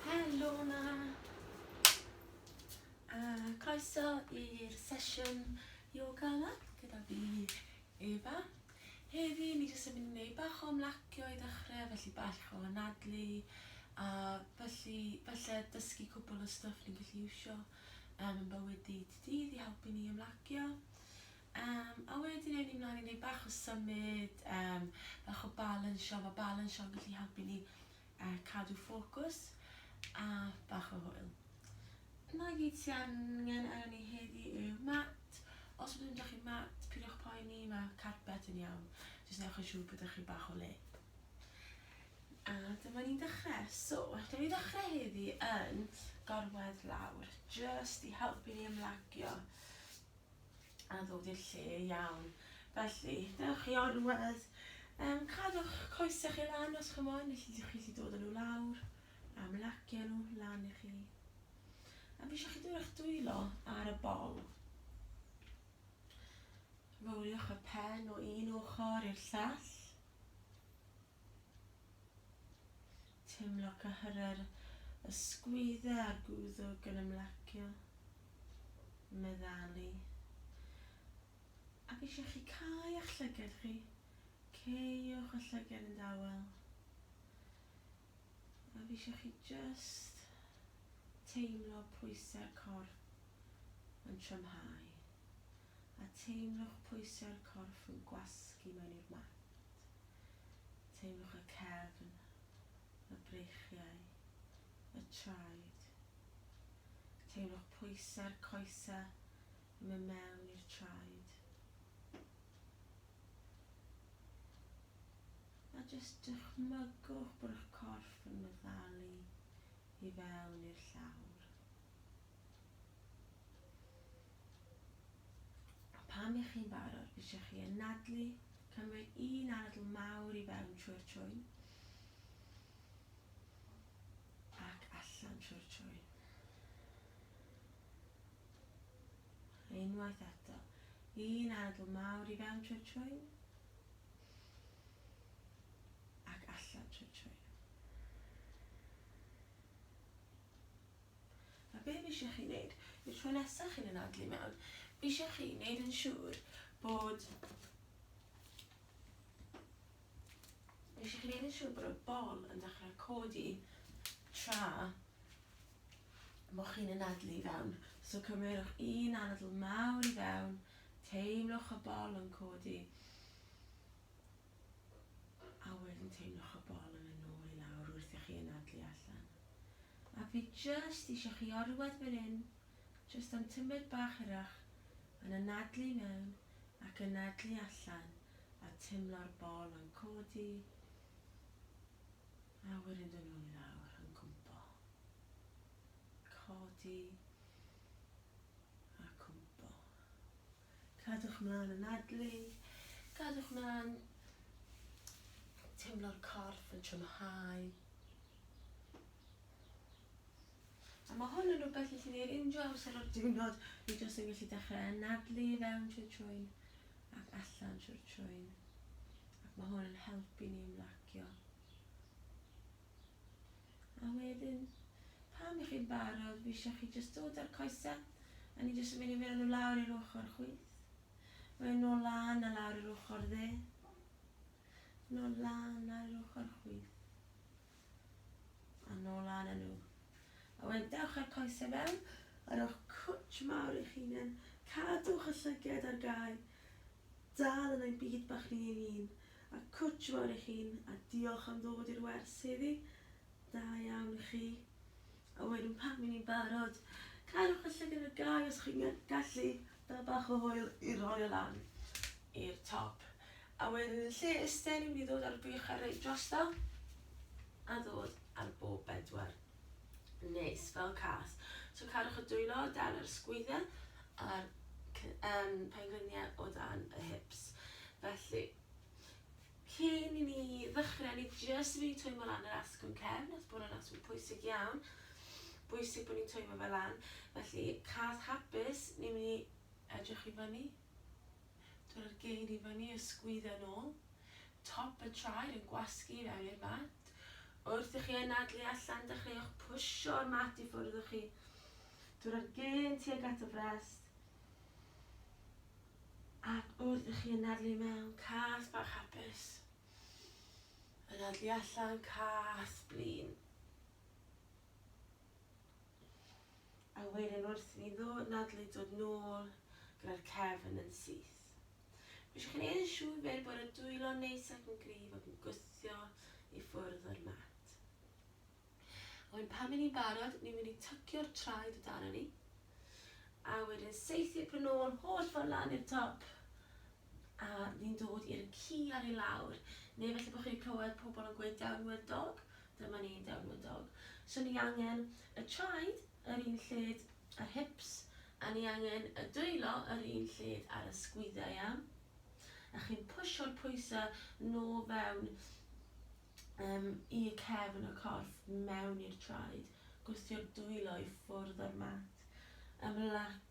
Helo na! A croeso i'r sesiwn yoga yma gyda fi, Eva. Heddi, ni jyst yn mynd i wneud bach o ymlacio i ddechrau, felly bach o anadlu, a felly, felly dysgu cwbl o stuff ni'n gallu iwsio um, yn bywyd dydd i dydd i helpu ni ymlacio. Yym, a wedyn ewn ni mlaen i neud bach o symud, yym, bach o balansio, ma' balansio'n gallu helpu ni yy cadw ffocws a bach o hwyl. Na gyd sy angen arnon ni heddi yw mat, os byddwn da chi mat pidiwch poeni ma' carpet yn iawn, jyst newch yn siŵr bod da chi bach o le. A dyma ni'n dechre, so newn ni ddechre heddi yn gorwedd lawr, jyst i helpu ni ymlacio. a ddod i'r lle iawn. Felly, dewch chi orwedd, um, cadwch coesau chi lan os chi'n moyn, felly ydych chi wedi dod â nhw lawr, a mlacio nhw lan i chi. A fi eisiau chi dod eich dwylo ar y bol. Roliwch y pen o un ochr i'r llall. Teimlo cyhyrau'r ysgwyddau a gwddwg yn ymlacio, meddalu. Ac eisiau chi cau a'ch llygad chi, ceiwch y llygad yn dawel. A fi eisiau chi just teimlo pwysau'r corff yn trymhau. A teimlwch pwysau'r corff yn gwasgu mewn i'r mat. plant. Teimlwch y cefn, y breichiau, y traed. Teimlwch pwysau'r coesau yn mynd mewn i'r traed. A jyst dychmygwch bod eich corff yn meddalu i fewn i'r llawr. Pan y'ch chi'n barod, byddech chi yn nadlu, cymryd un anadl mawr i fewn trwy'r trwyn ac allan trwy'r trwyn. Unwaith eto, un anadl mawr i fewn trwy'r trwyn ac allan trwy'r trwyn. A be fi eisiau chi wneud yw'r tro nesaf chi'n anadlu mewn, fi eisiau chi wneud yn siŵr bod fi eisiau chi wneud yn siŵr bod y bol yn dechrau codi tra bod chi'n anadlu i fewn. So cymerwch un anadl mawr i fewn, teimlwch y bol yn codi. A wedyn teimloch y bol yn mynd nôl i lawr wrth i chi anadlu allan. A fi jyst isio chi orwedd fan hyn, jyst am tymed bach hirach, yn anadlu i mewn ac anadlu allan a teimlo'r bol yn codi a wedyn dod nôl i lawr, yn cwmpo. Codi a cwmpo. Cadwch mlaen anadlu, cadwch mlaen teimlo'r corff yn trymhau. A mae hwn yn rhywbeth i chi wneud unrhyw amser o'r diwrnod, ni jyst yn gallu dechrau anadlu i fewn trwy'r trwyn ac allan trwy'r trwyn. Ac mae hwn yn helpu ni ymlacio. A wedyn, pan y'ch chi'n barod, fi isio chi jyst dod â'r coesau, a ni jyst yn mynd i fynd â nhw lawr i'r ochr chwith. Wedyn nôl lan a lawr i'r ochr dde. Nôl lan lawr i'r ochr chwith. A nôl lan â nhw. A wedyn dewch â'r coesau fewn, a rhowch cwtsh mawr i'ch hunan. Cadwch y llyged ar gau. Dal yn ein byd bach ni ein hun. A cwtsh fawr i chi'n a diolch am ddod i'r wers heddi. Da iawn i chi. A wedyn pan fy ni'n barod, cadwch y llygad ar gau os chi'n gallu, da bach o hwyl i roi o lan i'r top. A wedyn yn lle iste ni'n mynd i ddod a'r buchar reit drosto a ddod ar bob bedwar. Neis, fel cas. So cadwch y dwylo o dan yr sgwydden a'r um, pengliniau o dan y hips. Felly, cyn i ni ddechrau, ni jyst yn mynd i twymo lan yr asgwrn cefn, nes bod yn asgwrn pwysig iawn. Bwysig bod ni'n twymo fe lan. Felly, cas hapus, ni'n mynd i edrych i fyny. Torri'r gein i fyny a sgwydda nôl. Top y traed yn gwasgu i fewn i'r mat. Wrth i chi anadlu allan, dechreuwch pwsio'r mat i ffwrdd o chi. Torri'r gein tuag at y frest. Ac wrth i chi anadlu i mewn, cath bach hapus. Anadlu allan, cath blin. A wedyn wrth i ni ddod nadlu dod nôl gyda'r cefn yn syth. Mae eisiau chi wneud yn siŵr wedyn bod y dwylo'n neis ac yn gryf ac yn gwthio i ffwrdd o'r mat. A wedyn pan fy ni'n barod, ni'n mynd i tycio'r traed o dan ni, a wedyn saethu p'un nôl holl ffordd lan i'r top, a ni'n dod i'r ci ar ei lawr, neu falle bod chi wedi clywed pobl yn gweud downward dog, Dyma ni'n delwydog. So ni angen y traed yr un lled a'r hips, a ni angen y dwylo yr un lled a'r ysgwyddau, iawn? A chi'n pwsio'r pwysau nôl fewn um, i y cefn y corff, mewn i'r traed, gwthio'r dwylo i ffwrdd o'r mat. Ymlac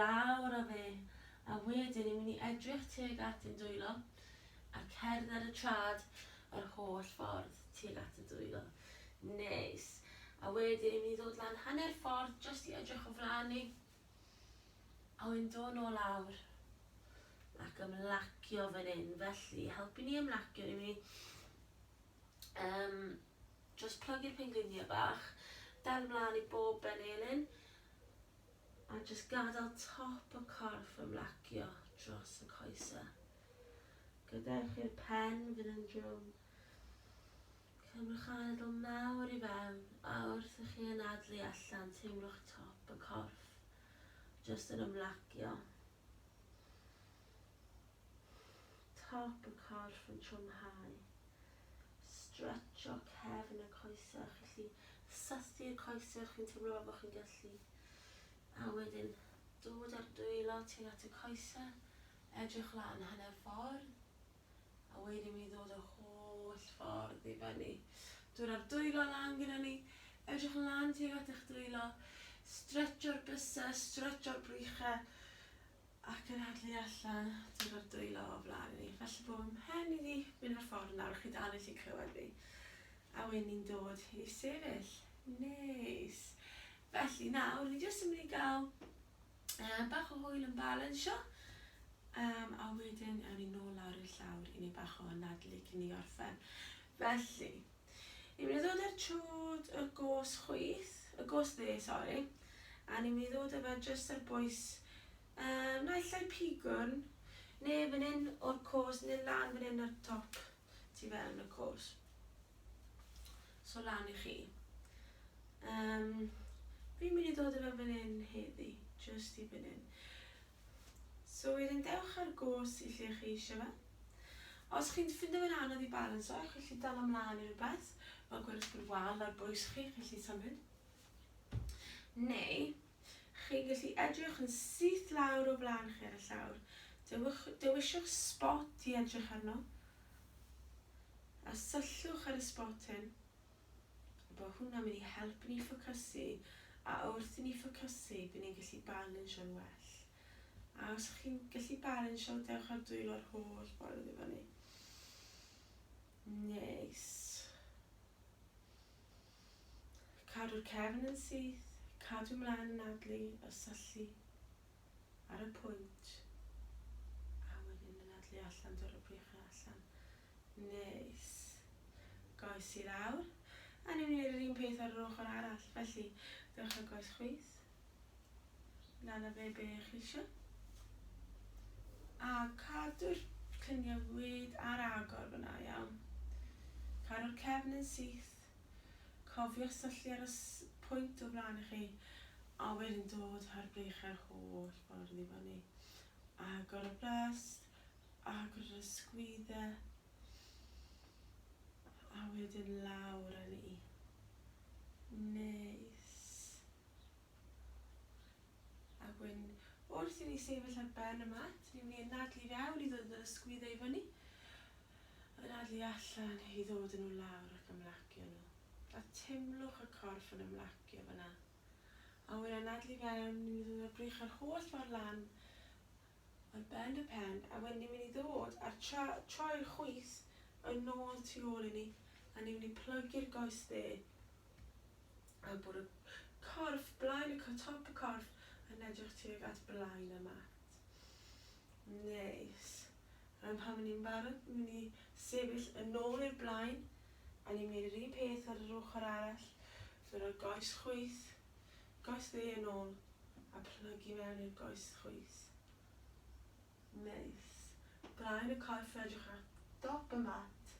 lawr â fe, a wedyn yw ni edrych tuag at ein dwylo a cerdd ar y traed yr holl ffordd tuag at y dwylo. Neis. A wedyn yw ni ddod lan hanner ffordd jyst i edrych o flaen ni. A wedyn dod nôl lawr ac ymlacio fan hyn. Felly, i helpu ni ymlacio, ni'n mynd i um, just plygu'r pengliniau bach, dal ymlaen i bob ben elin, A jyst gadael top y corff ymlacio dros y coesau. Gadewch i'r pen fynd yn drwm. Cymrwch anadl mawr i fewn a wrth i chi anadlu allan teimlwch top y corff jyst yn ymlacio. Top y corff yn trwmhau. stretsio cefn y coesau chi'n gallu cysylltu'r coesau chi'n teimlo fel bod chi'n gallu a wedyn dod â'r dwylo tuag at y coesau edrych lan hanner ffordd a wedyn mi ddod yr holl ffordd i fyny dod â'r dwylo lan gyda ni edrych lan tuag at eich dwylo stretsio'r bysau stretsio'r brychau ac yn adel i allan ddod o'r dwylo o flaen i, falle bo' fy mhen i 'di mynd o'r ffordd nawr, chi dal methu clywed fi, a wi ni'n dod i sefyll. Neis. Felly nawr ni jyst yn mynd i ga'l yy bach o hwyl yn balansio, yym a wedyn awn ni nôl lawr i'r llawr i neud bach o anadlu cyn i ni orffen. Felly, Ni'n mynd i ddod â'r chwd y gos chwith, y gos dde sori, a ni'n mynd i ddod â fe jyst ar bwys yym naill ai pigwn ne' fan 'yn o'r cos ne' lan fan 'yn ar top tu fewn y cos. So lan i chi. Yym fi'n mynd i ddod â fe fan 'yn heddi, jyst i fan 'yn. So wedyn dewch ar go's i lle chi eisiau fe. Os chi'n ffindo fe'n anodd i balansio, chi'n gallu dala mlaen i rhywbeth, fel gwyrdd fy wal ar bwys chi, chi'n gallu symud. Neu, chi'n gallu edrych yn syth lawr o flaen chi ar y llawr. Dewch, dewisiwch sbot i edrych arno, a syllwch ar y sbot hyn. bo hwnna'n mynd i helpu ni ffocysu a wrth i ni ffocysu by ni'n gallu balansio'n well. A os chi'n gallu balansio dewch a dwylo'r holl ffordd i fyny. Neis. Cadw'r cefn yn syth, cadw mlaen yn adlu y syllu ar y pwynt a wedyn yn adlu allan dod y prych allan. Neis. Goes i lawr. A ni'n wneud yr un peth ar yr ochr arall. Felly, dewch â goes chwith lan a fe be chi eisiau. A cadw'r lluniau wyd ar agor fyna, iawn. Caru'r cefn yn syth. Cofio syllu ar y pwynt o flaen chi, a wedyn dod â'r breichiau'r holl ffordd i fyny. Agor y brest, Agor yr ysgwyddau a wedyn lawr a ni. Neis. Ac wedyn wrth i ni sefyll ar ben y mat, ni'n mynd i anadlu i fewn i ddod â ysgwyddau i fyny. Anadlu allan i ddod â nhw lawr ac ymlacio nhw. A teimlwch y corff yn ymlacio fan'na. A wedyn anadlu i fewn, ni'n mynd i ddod â'r gwrych yr holl ffordd lan. Ar ben y pen, a wedyn ni'n mynd i ddod a'r tra troi'r chwith yn nôl tu ôl i ni, a ni'n mynd i plygu'r goes dde, a bod y corff, blaen y co- top y corff yn edrych tuag at blaen y mat. Neis. Rwan pan ma' ni'n barod, ni'n mynd i sefyll yn nôl i'r blaen, a ni'n mynd i neud yr un peth ar yr ochr arall, so rhoi goes chwith, Goes dde yn ôl, a plyg i mewn i'r goes chwith. Neis. Blaen y corff yn edrych ar dop y mat.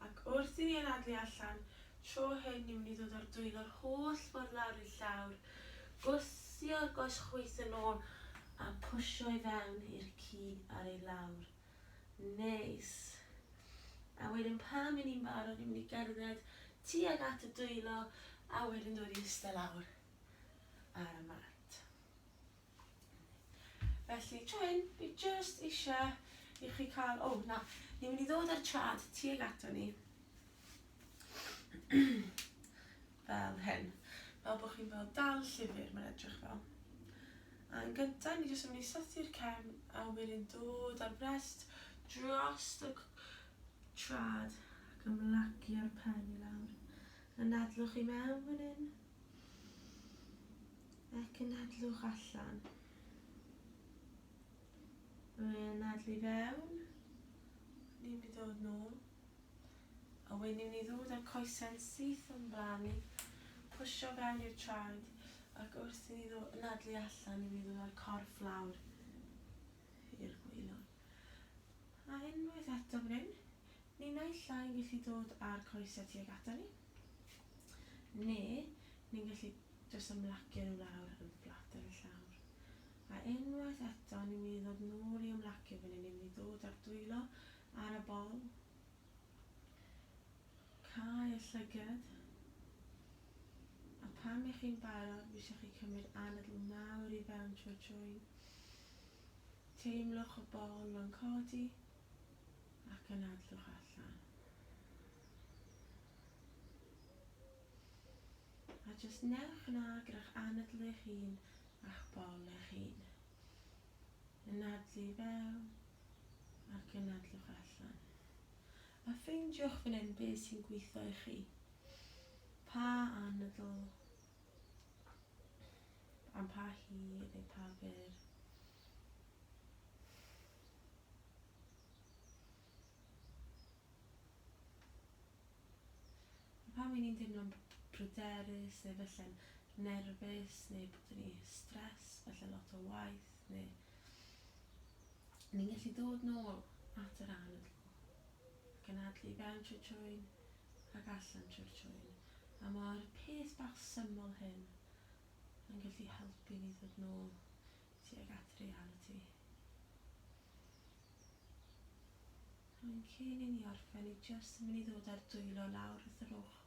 Ac wrth i ni anadlu allan, tro hyn ni'n mynd i ddod â'r dwyn yr holl ffordd lawr i'r llawr, gwthio'r goes chwith yn ôl a pwsio i fewn i'r ci ar ei lawr. Neis. A wedyn pan i ni'n barod ni'n mynd i gerdded tuag at y dwylo a wedyn dod i iste lawr ar y mat. Felly tro hyn, fi jyst eisiau i chi cael... O, na, ni'n mynd i ddod â'r trad tuag ato ni. fel hyn, fel bod chi'n fel dal llyfr mae'n edrych fel. A yn gyntaf ni jyst yn mynd i sythu'r cefn a wedyn dod ar frest dros y trad ac ymlacia'r pen i lawr. Yn nadlwch i mewn fan hyn ac yn nadlwch allan. Yn nadlu fewn, ni'n mynd i ddod nôl. A wen i'n ei ddod a'r coesau'n syth o'm blaen i, pwsio fel i'r traed, ac wrth i ni ddo anadlu allan i mi ddod a'r corff lawr i'r gwaelod. A unwaith eto fan hyn, ni naill ai'n gallu dod a'r coesau tuag ata ni, ne ni'n gallu jyst ymlacio nhw lawr yn fflat ar y llawr. A unwaith eto, ni'n mynd i ddod nôl i ymlacio fan hyn, ni'n mynd i ddod a'r dwylo ar y bol, Cau y llygad. A phan ych chi'n barod, fi eisiau chi cymryd anadl mawr i fewn trwy'r trwyn. Teimlwch y bol mewn codi ac anadlwch allan. A jyst newch yna gyda'ch anadl eich hun a'ch bol eich hun. Yn adlu i fewn ac yn adlwch allan. A ffeindiwch fan hyn be sy'n gweithio i chi. Pa anadl am pa hir neu pa fyr. A phan wy ni'n teimlo'n bryderus neu falle'n nerfus neu bod gen i stress, falle lot o waith neu ni'n gallu dod nôl at yr anadl ac anadlu i fewn trwy'r trwyn ac allan trwy'r trwyn a mae'r peth bach syml hyn yn gallu helpu ni ddod nôl tuag at realiti. Rwy'n cyn i ni orffen i jyst yn mynd i ddod a'r dwylo lawr wrth yr ochr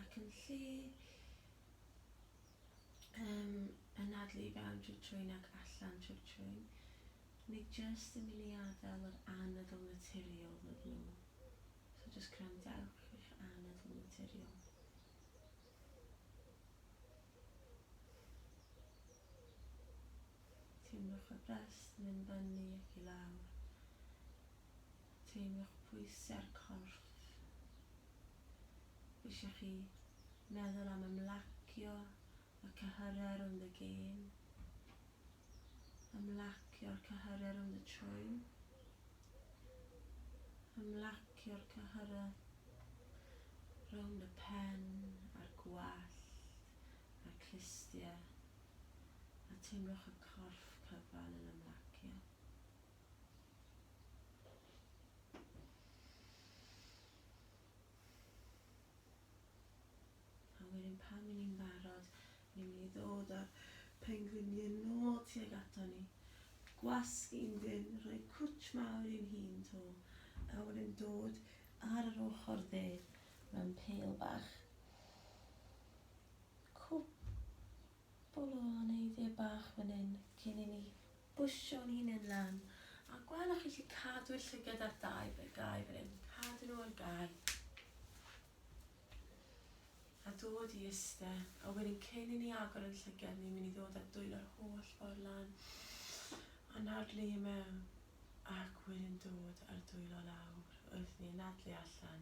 ac yn lle um, anadlu i fewn trwy'r trwyn ac allan trwy'r trwyn, ni jyst yn mynd i adael yr anadl naturiol ddod nôl. So jyst gwrandewch i'ch anadl naturiol. Teimlwch y brest yn mynd fyny ac i lawr. Teimlwch pwysau ar y corff. Mae eisiau chi meddwl am ymlacio y cyhyrau rownd y gêm, ymlacio'r cyhyrau rownd y trwyn, ymlacio'r cyhyrau rownd y pen a'r gwallt a'r clustiau. a teimlwch y corff cyfan yn ymlacio. A wedyn pan i ni'n barod, ni'n mynd i ddod â'r pengliniau nôl tuag ato ni. Gwasgu'n dyn, rhoi cwtch mawr i'n hun to, a wedyn dod ar yr ochr dde mewn pel bach. Cwpwl o aneiddie bach fan hyn cyn i ni bwsio'n hunen lan. A gwelwch chi allu cadw'r llygad ar dau fe- gau fan hyn. Cadw nhw ar gau. A dod i iste. A wedyn cyn i ni agor yn llygad ni mynd i ddod a dwylo'r holl ffordd lan. Anadlu i mewn. Ac wedyn dod a'r dwylo lawr wrth ni anadlu allan.